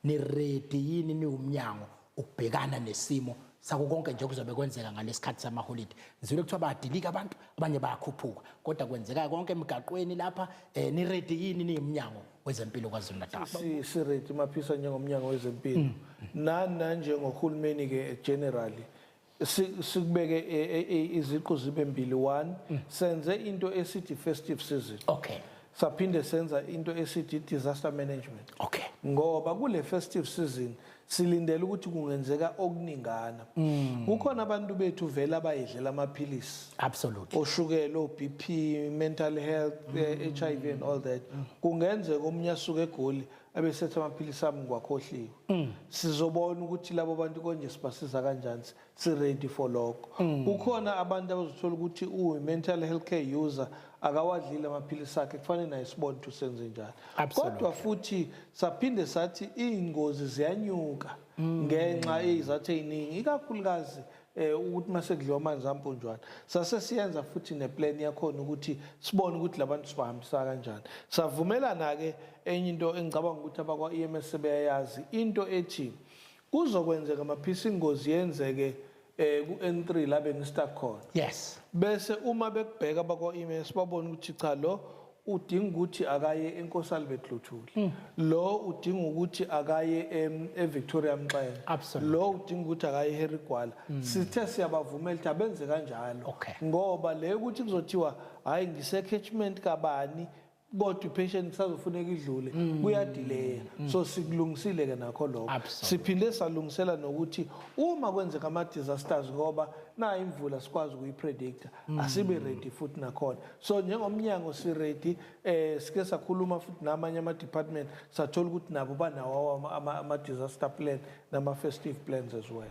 niredi yini niwumnyango ukubhekana nesimo sako konke nje kuzobe kwenzeka ngalesikhathi samaholide ngizwile kuthiwa bayadilika abantu abanye bayakhuphuka kodwa kwenzeka konke emigaqweni lapha eh, niredi yini niyimnyango wezempilo KwaZulu-Natal siredi maphisa njengomnyango wezempilo mm. nani nanjengohulumeni-ke generally sikubeke e, e, e, iziqu zibe mbili one mm. senze into esithi festive season okay saphinde senza into esithi disaster management okay ngoba kule festive season silindele ukuthi kungenzeka okuningana mm. kukhona abantu bethu vele abayidlela amaphilisi absolutely oshukela oBP mental health eh, mm. HIV and all that mm. kungenzeka omunye asuke egoli mm. abesetha amaphilisi ami ngiwakhohliwe mm. sizobona ukuthi labo bantu konje sibasiza kanjani si-ready for lokho mm. kukhona abantu abazothola ukuthi uyi-mental health care user akawadlile amaphilisi akhe kufanele naye sibone ukuthi usenze njani kodwa futhi saphinde sathi iy'ngozi ziyanyuka mm. ngenxa eyizathu ey'ningi ikakhulukazi mm. eh ukuthi mase kudliwa amanzi ampunjwana sase siyenza futhi neplan yakhona ukuthi sibone ukuthi labantu sibahambisa kanjani savumelana ke enye into engicabanga ukuthi abakwa EMS sebeyayazi into ethi kuzokwenzeka maphisa ingozi yenzeke eh ku N3 la bengistuck khona yes bese uma bekubheka abakwa EMS babona ukuthi cha lo udinga ukuthi akaye eNkosalibet Luthuli mm. lo udinga ukuthi akaye eVictoria Mxenge lo udinga ukuthi akaye eHarry Gwala mm. sithe siyabavumela ukuthi abenze kanjalo ngoba le ukuthi kuzothiwa hayi ngise-catchment kabani kodwa ipatient kusazofuneka idlule mm. kuyadileya mm. so sikulungisile ke nakho lokho siphinde salungisela nokuthi uma kwenzeka ama disasters ngoba na imvula sikwazi ukuyipredictor mm. asibe ready futhi nakhona so njengomnyango siready eh sike sakhuluma futhi namanye ama department sathola ukuthi nabo banawo ama, ama disaster plan nama festive plans as well